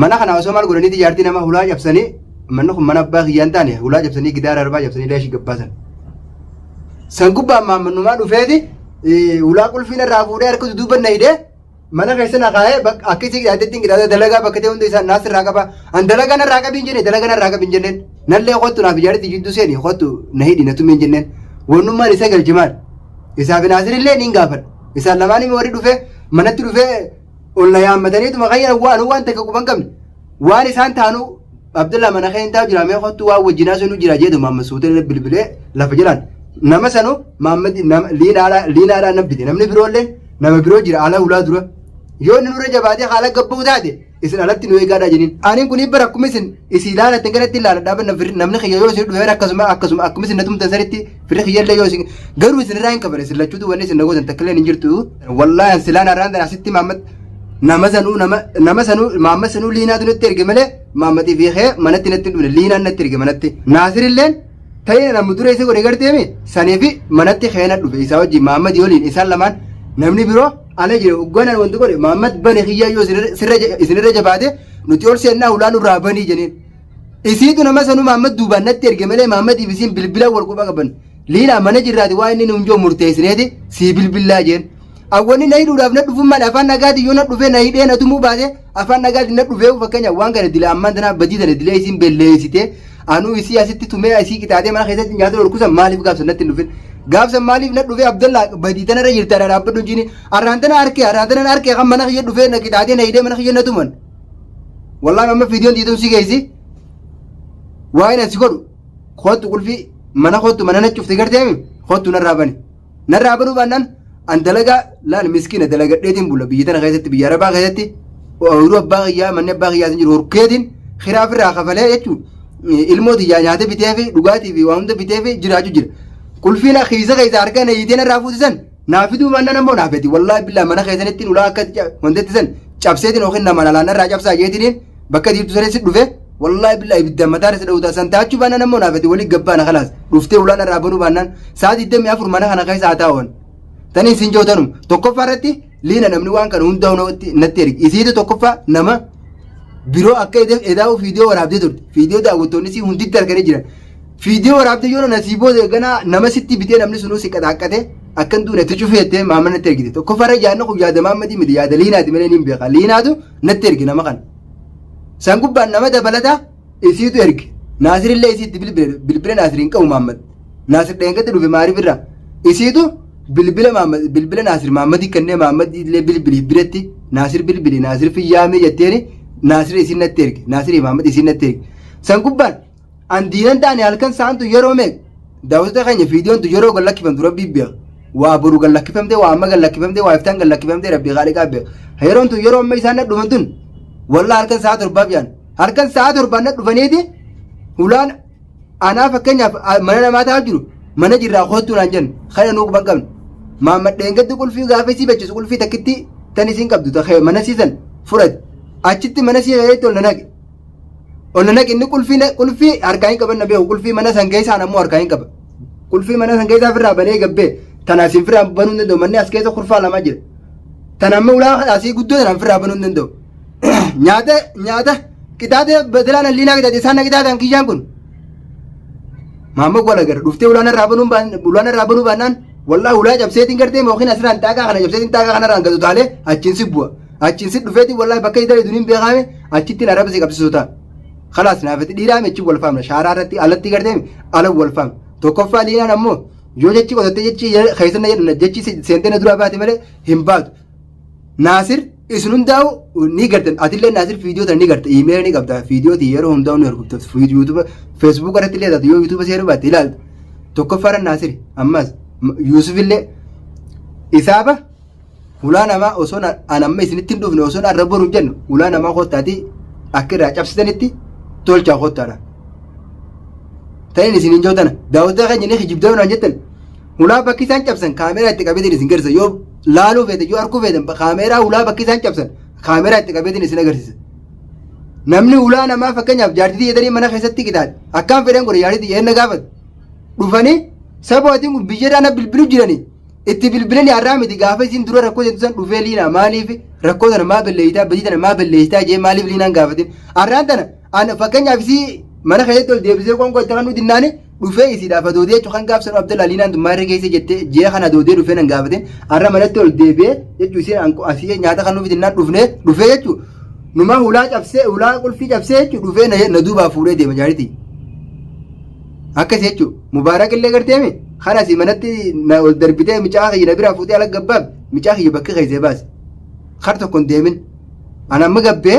mana kana osoo maal godhanii ijaartii nama hulaa cabsanii manni kun mana abbaa kiyyaa hin taane hulaa cabsanii gidaara arbaa cabsanii leeshii gabbaasan. San gubbaan maammannumaa dhufeeti hulaa qulfiin irraa fuudhee harka duduuba na hidhee mana keessa na kaa'ee akka isii qidaatettiin qidaatee dalagaa bakka ta'e hunda isaan naas irraa qaba. An dalagaa narraa qabiin jennee dalagaa narraa qabiin jenneen nallee kottu naaf ijaartii jidduu seeni kottu na hidhi na tumiin jenneen wannummaan isa galchimaan isaaf naasirillee niin gaafadha. Isaan lamaan immoo warri dhufee manatti dhufee ol na yaammataniituma kan jedhan waan waan takka quban qabne waan isaan taanu Abdullah mana kee hin taa'u jira mee kottu waan wajjinaa sunu jira jedhu Muhammad Suuteen bilbilee lafa jiran nama sanu Muhammad nama liinaadhaa liinaadhaa nabbite namni biroollee nama biroo jira ala ulaa dura yoo inni nurra jabaatee haala gabbuu taate isin alatti nu eegaadhaa jedhin anin kun bara akkuma isin isin ilaalatan kanatti ilaaladhaa namni kiyya yoo isin dhufeera akkasuma akkasuma akkuma isin na tumtan sanitti Fira kiyyallee yoo isin garuu isin irraa hin qabane isin lachuutu wanni isin nagootan takkallee hin jirtu. Wallaahi an silaan arraan tana asitti maammat nama sanuu nama nama sanuu maammat sanuu liinaatu natti erge malee maammatii fi kee manatti natti hin dhufne liinaan natti erge manatti. Naasirilleen ta'ee namni dura isa godhe garteemi sanii fi manatti keena dhufe isaa wajjin maammatii waliin isaan lamaan namni biroo ala jira ugganaan wanti godhe maammat bane kiyyaa yoo isinirra jabaate nuti ol seennaa ulaa nurraa banii jeneen. Isiitu nama sanuu Maammad duubaan natti erge malee Maammadiif isiin bilbila wal quba qaban. Liilaa mana jirraati waa inni nuun jiru murteessineeti sii bilbillaa jeen. Awwanni na hidhuudhaaf na dhufuun maal afaan nagaatiin yoo na dhufee na hidhee na tumuu baate afaan nagaatiin na dhufee fakkeenya waan kana dila ammaan tanaa badii dala dilee isiin belleessitee anuu isii asitti tumee isii qixaaxee mana keessatti nyaata dhorkusan maaliif gaafsan natti hin dhufin. Gaafsan maaliif na dhufee Abdallaa badii tanarra jirta dhaabbadhu jiini arraan tana harkee arraan tana harkee kan mana kiyya dhufee na qixaaxee na hidhee mana kiyya na tuman. Wallahi amma viidiyoon dhiitun si geessi. Waa'een asi godhu kootu qulfii mana kootu mana nacufte garteemi kootu narraa bani. Narraa banuu baannaan an dalagaa laal miskiina dalagadheetiin bula biyya tana keessatti biyya arabaa keessatti ooyiruu abbaa kiyyaa manni abbaa kiyyaatiin jiru horkeetiin hiraa ofirraa kafalee jechuun ilmoo tiyyaa nyaata bitee fi dhugaatii fi waa hunda bitee fi jiraachuu jira. Qulfiin kiisa keessa harkaan eeyyitee narraa fuusisan Naa fiduu baannaan ammoo naa fedi. Wallaahi billaa mana keessanitti ulaa akka wanteetti san cabseetiin yookiin namaan alaan irraa cabsaa jeetiniin bakka diibtu sanis dhufe wallaahi billaa ibidda mataa irra dhawutaa san taachuu baannaan ammoo naa fedi walii gabbaana kalaas dhuftee ulaan irraa banuu baannaan sa'a 24 mana kana keessa haa taa'uun. Tani isin jootanum tokkoffaa irratti liina namni waan kana hundaa natti ergi isiitu tokkoffaa nama biroo akka edaa'u fiidiyoo waraabdee turte fiidiyoo daawwattoonni isii hunditti arganii jiran Fiidiyoo waraabdee yoo nana sii booda ganaa nama sitti bitee namni sunuu si qaxaaqqate akkan duune itti cufee jettee maama natti ergite. Tokkoffaa irra yaadni kun yaada maammadii miti yaada liinaati malee niin beeka. Liinaatu natti erge nama kana. San gubbaan nama dabalata isiitu erge. Naasir illee isiitti bilbile bilbila naasir hin qabu maammad. Naasir dheengatti dhufe maariif irra. Isiitu bilbila maammad bilbila naasir maammadi kennee maammadi illee bilbiliif biretti naasir bilbili naasir fiyyaamee jetteeni naasir isiin natti erge naasir maammad isiin natti erge. San gubbaan An diinan taane halkan saantu yeroo meeqa? Daawwattoota keenya viidiyoon tun yeroo gad lakkifamtu rabbii beeka. Waa boru gad lakkifamtee, waa amma gad lakkifamtee, waa iftaan gad lakkifamtee rabbii haaliqaa beeka. Yeroon tun yeroo amma isaan nadhuman tun wallah halkan sa'a torbaaf yaan. Halkan sa'a torbaan nadhufaniiti hulaan anaa fakkeenyaaf a- mana namaa taa'aa jiru mana jirraa koottuu naan jennu kana nuu quban qabna. Maammadheen gaddi qulfii gaafa isii bachisu qulfii takkitti tan isiin qabdu ta- mana siisan fudhate. Achitti mana sii keessatti ol na naqe. Onna naqi inni qulfii na- qulfii harkaa hin qaban na beeku qulfii mana san keessaan ammoo harkaa hin qaba. Qulfii mana san keessaa firraa banee gabbee tana isin firraa banuu hin danda'u manni as keessa kurfaa lama jira. Tana amma ulaa asii guddoo tana firraa banuu hin danda'u. Nyaata nyaata qixaatee batilaan alliinaa qixaate isaan na qixaatan kiyyaan kun. Maamma gola gara dhuftee ulaan irraa banuu baan ulaan irraa banuu baannaan wallaahi ulaa cabseetiin gartee mookin asirraan xaaqaa kana cabseetiin xaaqaa kanarraan gatu taalee achiin si bu'a. Achiin si dhufeeti wallahi bakka hin daleedu hin beekaame achittiin arraba si qabsiisu ta'a. Kalaas naafati dhiiraa mechi wal faamna shaaraa irratti alatti garteemi ala wal faamna. Tokkoffaa liinaan ammoo yoo jechi qotattee jechi keessan na jedhu jechi seentee na duraa baate malee hin baatu. Naasir isin hundaa'u ni gartan atillee naasir viidiyoo tana ni garta iimeela ni qabda viidiyoo ti yeroo hundaa'u ni hordofta yuutuuba feesbuuk irratti illee taatu yoo yuutuuba seeruu baatte ilaalta. Tokkoffaa irra naasir ammas yuusuf illee isaaba Hulaa namaa osoo an amma isinitti hin dhufne osoo arra boru hin jennu hulaa namaa kottaati akka irraa cabsitanitti tolchaa kottaadha. Ta'in isin hin jootana daawwataa keenya ni kijibdaa waan jettan hulaa bakki isaan cabsan kaameeraa itti qabeetiin isin garisa yoo laaluu feetan yoo arguu feetan kaameeraa hulaa bakki isaan cabsan kaameeraa itti qabeetiin isin agarsiisa. Namni hulaa namaa fakkeenyaaf jaartitii jedhanii mana keessatti qixaadhe akkaan fedhan godhe jaartitii eenna gaafatu dhufanii sabootiin kun biyyarraa na bilbilu jiranii Itti bilbilanii har'aa miti gaafa isiin dura rakkoo jettu san dhufee liinaa maaliif rakkoo sana maa balleessitaa badii sana maa balleessitaa jee maaliif liinaan gaafatin har'aan tana an fakkeenyaaf isii mana keessatti ol deebisee qoonqoo itti kan dinnaani dhufee isiidhaaf adoodee jechuun kan gaafsan abdallaa liinaan tun maarree keessa jettee jee kan adoodee dhufee nan gaafatin har'a manatti ol deebi'ee jechuun isiin an asii nyaata kan nuuf dinnaan dhufnee dhufee jechuun numaa hulaa cabsee hulaa qulfii cabsee jechuun dhufee na- na duubaa fuudhee deema jaaritii akkas jechuun. Mubaarak illee garteemi kan asii manatti na ol darbitee micaa kiyya na biraa fuutee ala gabbaaf micaa kiyya bakka keessee baase. Kar tokko hin deemin. Ana amma gabbee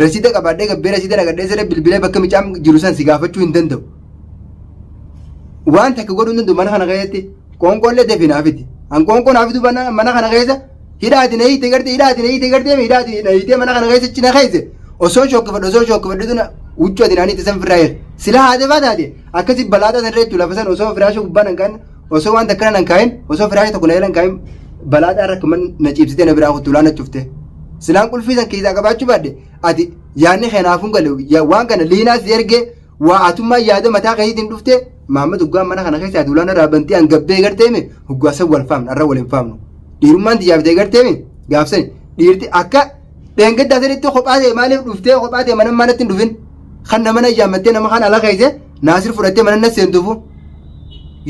rasiida qabaadhee gabbee rasiida naqadhee siree bilbilee bakka micaan jiru san si gaafachuu hin danda'u. Waan takka godhuu hin danda'u mana kana keessatti qoonqoollee deefi naafiti. An qoonqoo naafiduu mana kana keessa hidhaati na hiite gartee hidhaati na hiite gartee hidhaati na hiite mana kana keessa cina keessa osoo shookkifadhu osoo shookkifadhu tuna huccuu ati naanii tasan firraa jira sila haate faa taate akkasi balaataa san reechu lafa san osoo firaasha gubbaa nan kaa'in osoo waan takkana nan kaa'in osoo firaasha tokko na jalan kaa'in balaataa rakka man na ciibsitee na biraa kuttu laana cufte silaan qulfii san keessaa qabaachuu baadde ati yaanni keenaafuu galu waan kana liinaas ergee Waa atummaa yaada mataa keetiin dhufte Maammed hoggaa mana kana keessa ati ulaana irraa bantee hangabbee garteemi hoggaa san wal faamna arra wal hin faamnu. Dhiirummaan tiyyaa bitee garteemi gaafsani dhiirti akka dheengaddaa sanitti kophaa ta'e maaliif dhuftee kophaa ta'e mana manatti hin dhufin. Kan nama na yaammattee nama kan ala keesse naasir fudhattee mana na seentuufu.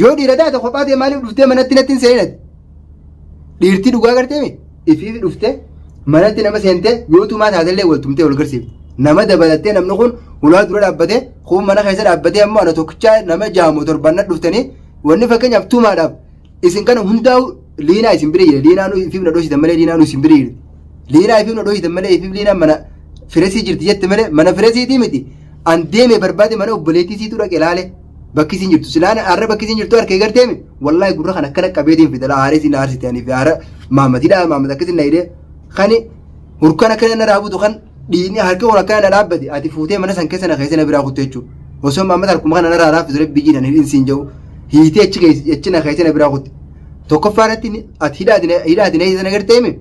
Yoo dhiira taate kophaa ta'e maaliif dhuftee manatti natti hin seeninati. Dhiirtii dhugaa gartee mi? Ifiifi dhuftee manatti nama seentee yoo tumaa taatellee wal tumtee wal garsiifte. Nama dabalattee namni kun hulaa dura dhaabbatee kun mana keessa dhaabbatee ammoo ana tokkichaa nama jaamu torban na dhuftanii wanni fakkeenyaaf tumaadhaaf isin kana hundaa'u liinaa isin bira jira liinaa nu ifiif na dhoositan malee liinaa nu isin bira jirti. Liinaa ifiif na dhoositan malee ifiif liinaa mana firesii jirti jette malee mana firesiitii miti. An deemee barbaade mana obboleettii siitu dhaqe laale bakki isin jirtu silaan har'a bakki isin jirtu harkee garteemi. wallahi gurra kan akkana qabeetiin fidala aaree siin aarsite ani fi aara maamat hidhaa maamat akkasi na hidhee kani hurkan akkana na raabutu kan dhiini harki kun akkana na dhaabbate ati fuutee mana san keessa na keessa na biraa kutte jechuudha osoo maamat harkuma kana na raaraa fidale biyyi nan hin siin jedhu hiitee achi keessa achi na keessa na biraa kutte tokkoffaa irratti ni- ati hidhaati na- hidhaati na hiitee na gartee hime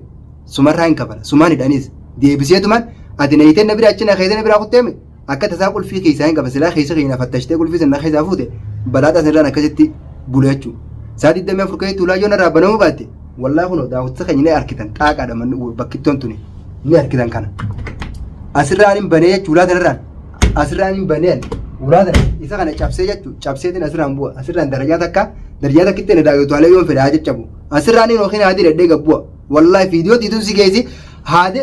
sumarraa hin kafala sumaan hidhaniis deebiseetumaan ati na hiitee na biraa achi na keessa na biraa kutte hime akka tasaa qulfii keessaa hin qaban silaa keessa keenya fattashtee qulfii sana keessaa fuute balaaxaa sanirraan akkasitti bule jechuudha. Saa 24 keessatti ulaa yoo narraa banamuu baatte wallaa kun daawwattoota keenya ni arkitan xaaqaadha manni bakkittoon tuni ni arkitan kana. Asirraan hin banee jechuudha ulaa sanarraan asirraan hin banee ulaa sana isa kana cabsee jechuudha cabseetiin asirraan bu'a asirraan darajaa takka darajaa takkitti na daawwataalee yoo fedhaa jajjabu asirraan hin yookiin haadhi dhedhee gabbu'a wallaahi fiidiyoo tiituun si geessi haadhi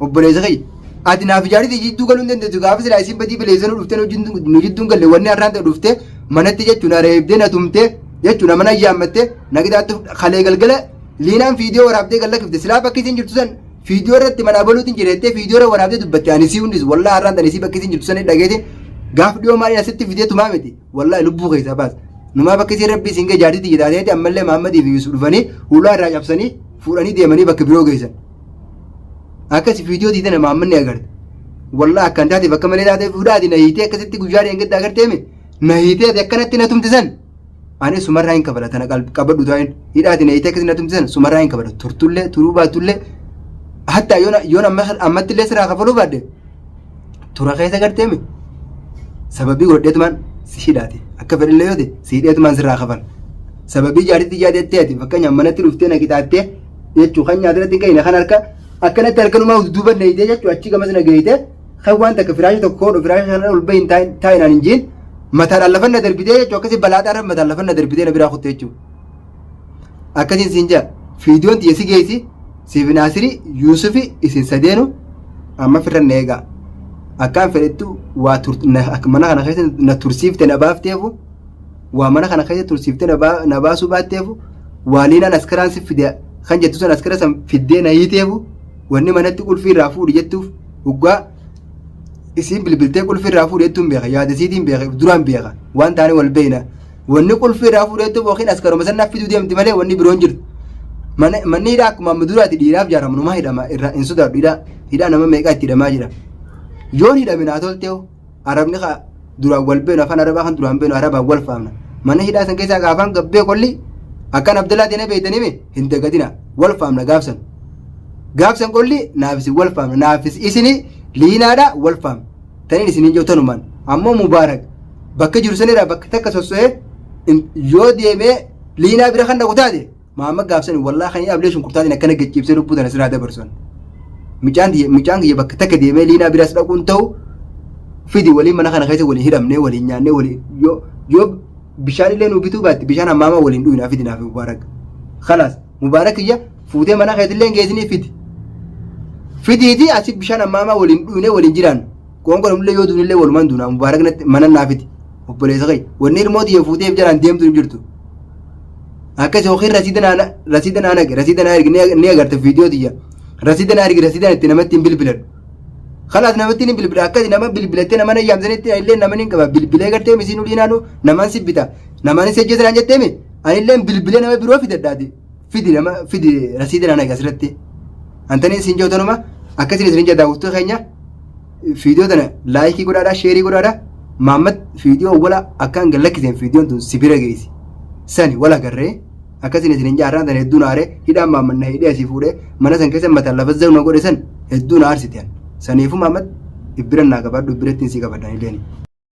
Obboleessa kiyya. Ati naaf ijaariti jidduu galuu hin dandeessu gaafa silaa isin badii baleessan dhuftee nu jidduu- nu jidduun galle wanni har'aan ta'e dhuftee manatti jechuun na reebdee na tumtee jechuun mana ayyaammattee na qixaaxxee fudha. kalee galgala liinaan fiidiyoo waraabdee galla kifte silaa bakki isin jirtu san fiidiyoo irratti mana abaluutiin jireettee fiidiyoo irra waraabdee dubbatte ani sii hundis wallaa har'aan ta'e isii bakki isin jirtu san dhageetiin gaaf dhiyoo maaliin asitti fidee tumaa miti wallaa lubbuu keessaa baasa. Numaa bakki isin rabbi isin gee jaartitti jedhaatee ammallee Mahammadii fi Yusuf dhufanii hulaa irraa cabsanii fuudhanii deemanii bakka biroo geessan. akkasi viidiyoo diidana maammanni agarte wallah akkan taateef akka malee taatee fuudhaati na hiitee akkasitti guyyaa dheengadda agartee mi na hiitee ati akkanatti na tumte san ani sumarraa hin kabala tana qalb- qabadhu taa'in hidhaati na hiitee akkasi na tumte san sumarraa hin kabala turtullee turuu baatullee hatta yoon yoon amma ammatti illee siraa kafaluu baadde tura keessa gartee mi sababii godheetumaan si hidhaate akka fedhillee yoo ta'e si hidheetumaan sirraa kafala sababii jaartitti jaadettee ati fakkeenyaaf manatti dhuftee na qixaattee jechuu kan nyaatirratti hin gahine kan harka akkanatti harkanumaa duuba neeytee jechuu achi gamas na geeyte kan waan takka firaasha tokko koodho firaasha shanarra ol bahin taa'inaan hin jiin mataadhaan lafa na darbitee jechuu akkasi balaadhaarra mataan lafa na darbitee na biraa kutte jechuu akkasiin siin jaa fiidiyoon tiyya si geessi siif naasiri yuusufi isin sadeenu amma firra na eegaa akkaan fedhettu waa mana kana keessa na tursiifte na baafteefu waa mana kana keessa tursiiftee na baa- na baasuu baatteefu waaliinaan askaraan si fide kan jettu san askara san fiddee na hiiteefu wanni manatti qulfii irraa fuudhi jettuuf dhugaa isiin bilbiltee qulfii irraa fuudhi jettuun beeka yaada isiitiin beeka if duraan beeka waan taane wal beeyna wanni qulfii irraa fuudhi jettuuf yookiin askaruma san naaf fiduu deemti malee wanni biroon jirtu Mana- manni hidhaa akkuma amma duraati dhiiraaf jaaramu numa hidhama irraa hin sodaadhu hidhaa hidhaa nama meeqaa itti hidhamaa jira yoon hidhame naa tolteehu Arabni ka duraan wal beenu afaan arabaa kan duraan beenu arabaan wal faamna. Mana hidhaa san keessaa ka afaan gabbee qolli akkan Abdallaa ta'e na beeytanii mi hin dagatina wal faamna gaafsan. Gaafsan qolli naaf isin wal faamna naafis isini liinaadha wal faamna. Taniin isiniin jiru tanumaan ammoo mubaarak bakka jiru sanirraa bakka takka sosso'ee yoo deemee liinaa bira kan dhaqu taate Maamma gaafsani wallaa kan ablee shunkurtaatiin akkana gachiibsee lubbuu tana siraa dabarsan. Micaan tiyya- micaan kiyya bakka takka deemee liinaa biraas dhaquun ta'u fidi waliin mana kana keessa waliin hidhamnee waliin nyaannee waliin yoo yoo bishaan illee nuu bituu baatte bishaan hammaamaa waliin dhuginaa fidi naaf mubaarak. Kalaas mubaarak kiyya fuutee mana keessa illee hin geessinii fidi. Fidiitii asi bishaan hammaamaa waliin dhuginee waliin jiraannu. Qoonqoon ammallee yoo duunillee walumaan duunaa mubaarak natti mana naafiti obboleessa kee wanni ilmoo tiyya fuuteef jalaan deemtu hin jirtu. Akkas yookiin rasiida naa rasiida naa naqe rasiida naa ergi ni agarta viidiyoo tiyya rasiida naa ergi rasiidaan itti namatti hin bilbiladhu. Kalaas namatti hin bilbila akkasi nama bilbilattee nama hin yaamsanitti illee nama hin qaba bilbilee gartee misiin ulii naannoo namaan si bita namaan si ajjeessan jettee mi anillee bilbilee nama biroo fidadhaati fidi nama fidi rasiida naa naqe asirratti. Antaniin siin jootanuma akkasiin isin jedha daawwattuu keenya. Fiidiyoo tana laayikii godhaadhaa sheerii godhaadhaa Maammad fiidiyoo wala akkaan gad lakkiseen fiidiyoon tun si bira geessi. Sani wala garree akkasiin isin hin jaarraan sana hedduu na aaree hidhaan Maammad na hidhee asii fuudhee mana san keessa mataan lafa zaru na godhe san hedduu na aarsite an. Saniifuu Maammad ibbira naa qabaadhu ibbirattiin si qabadha anileen.